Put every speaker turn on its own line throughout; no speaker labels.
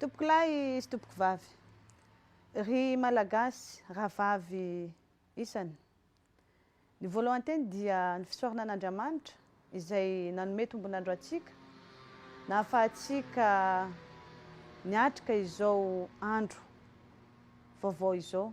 Tompoko lahy sy tompoko vavy, ry Malagasy rahavavy isany. Ny voalohan-teny dia ny fisaorana an'Andriamanitra izay nanome tombon'andro antsika, nahafahantsika niatrika izao andro vaovao izao.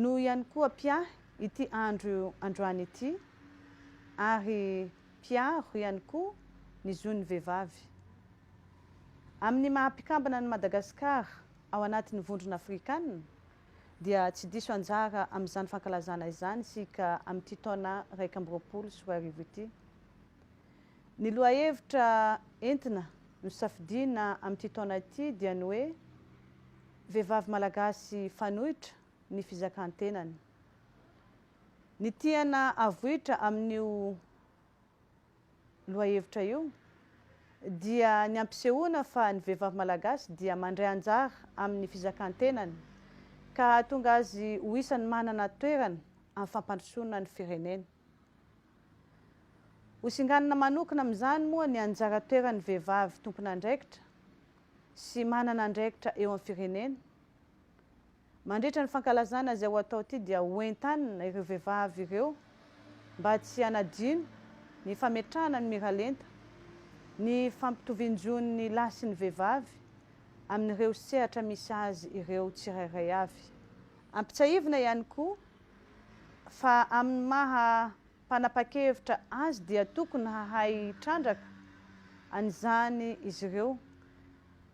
Noho ihany koa Pia ity andro androany ity ary mpiaro ihany koa ny zon'ny vehivavy. Amin'ny maha mpikambana an'i Madagasikara ao anatin'ny Vondrona Afrikanina dia tsy diso anjara amin'izany fankalazana izany isika amin'ity taona iraika amby roapolo sy roa arivo ity. Ny lohahevitra entina nosafidiana amin'ity taona ity dia ny hoe Vehivavy Malagasy fanoitra ny fizakan-tenany. Ny tiana avoitra amin'io lohahevitra io dia ny hampisehoana fa ny vehivavy Malagasy dia mandray anjara amin'ny fizakan-tenany ka hahatonga azy ho isan'ny manana toerana amin'ny fampandrosoana ny firenena. Ho singanina manokana amin'izany moa ny anjara toeran'ny vehivavy tompon'andraikitra sy manana andraikitra eo amin'ny firenena. Mandritra ny fankalazana izay ho atao ity dia ho entanina ireo vehivavy ireo mba tsy hanadino ny fametrahana ny miralenta ny fampitovian-jon'ny lahy sy ny vehivavy amin'ireo sehatra misy azy ireo tsirairay avy. Ampitsiahivina ihany koa Fa amin'ny maha mpanapa-kevitra azy dia tokony hahay hitrandraka an'izany izy ireo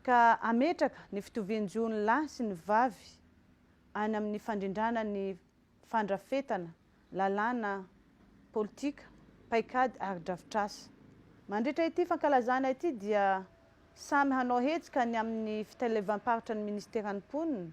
ka hametraka ny fitovian-jo ny lahy sy ny vavy any amin'ny fandrindrana ny fandrafetana lalàna, politika, paikady ary drafitrasa. Mandritra ity fankalazana ity dia samy hanao hetsika any amin'ny fitlevam-paritra ny Ministeran'ny Mponina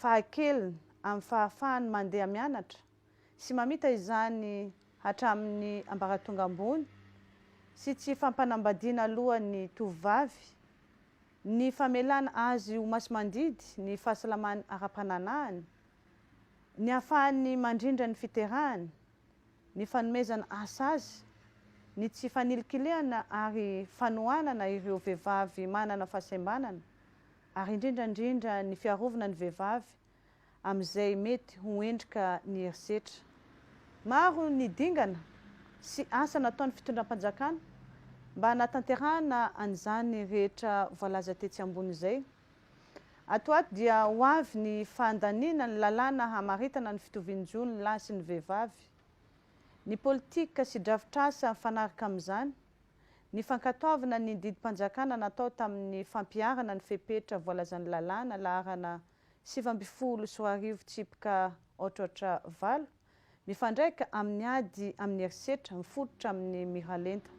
fahakeliny amin'ny fahafahany mandeha mianatra sy mamita izany hatramin'ny ambaratonga ambony sy tsy fampanambadiana alohan'ny tovovavy, ny famelana azy ho masimandidy ny fahasalamany ara-pananahany, ny hahafahany mandrindra ny fiterahany, ny fanomezana asa azy, ny tsy fanilikilihana ary fanohanana ireo vehivavy manana fahasembanana ary indrindra indrindra ny fiarovana ny vehivavy amin'izay mety ho endrika ny herisetra. Maro ny dingana sy asa nataon'ny fitondram-panjakana mba hanatanterahana an'izany rehetra voalaza tetsy ambony izay. Ato ho ato dia ho avy ny fandaniana ny lalàna hamaritana ny fitovian-jo ny lahy sy ny vehivavy, ny politika sy drafitr'asa mifanaraka amin'izany, Ny fankatoavana ny didim-panjakana natao tamin'ny fampiharana ny fepetra voalazan'ny lalàna laharana sivy ambin'ny folo sy roa arivo tsipika aotraotra valo, mifandraika amin'ny ady amin'ny herisetra mifototra amin'ny miralenta.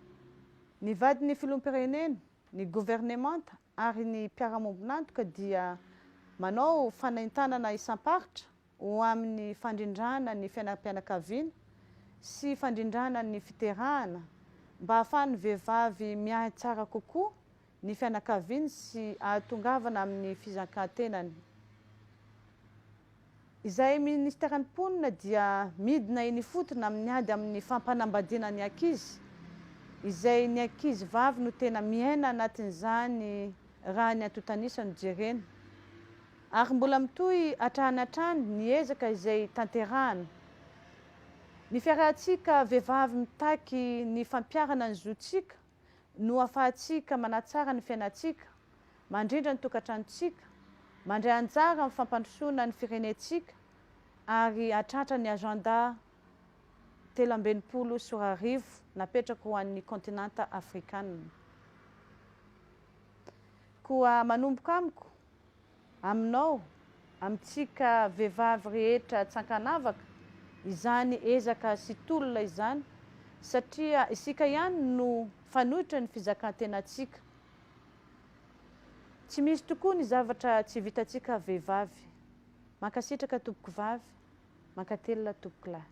Ny vadin'ny filoham-pirenena, ny governemanta ary ny mpiara-miombon'antoka dia manao fanaintanana isam-paritra ho amin'ny fandrindrana ny fiainam-pianakaviana sy fandrindrana ny fiterahana mba hahafahan'ny vehivavy miahy tsara kokoa ny fianakaviany sy ahatongavana amin'ny fizankan-tenany. Izay Ministeran'ny Mponina dia midina eny ifotony amin'ny ady amin'ny fampanambadiana ny ankizy, izay ny ankizy vavy no tena miaina anatin'izany raha ny antontan'isa no jerena. Ary mbola mitohy hatrany hatrany ny ezaka izay tanterahana. Ny fiarahantsika vehivavy mitaky ny fampiharana ny zontsika no ahafahantsika manatsara ny fiainantsika, mandrindra ny tokantranontsika, mandray anjara amin'ny fampandrosoana ny firenentsika ary hahatratra ny Agenda telo amby enimpolo sy roa arivo napetraka ho an'ny Kontinanta Afrikanina. Koa manomboka amiko. Aminao, amintsika vehivavy rehetra tsy ankanavaka, izany ezaka sy tolona izany, satria isika ihany no fanoitra ny fizakan-tenantsika. Tsy misy tokoa ny zavatra tsy vitantsika vehivavy. Mankasitraka tompokovavy, mankatelina tompokolahy.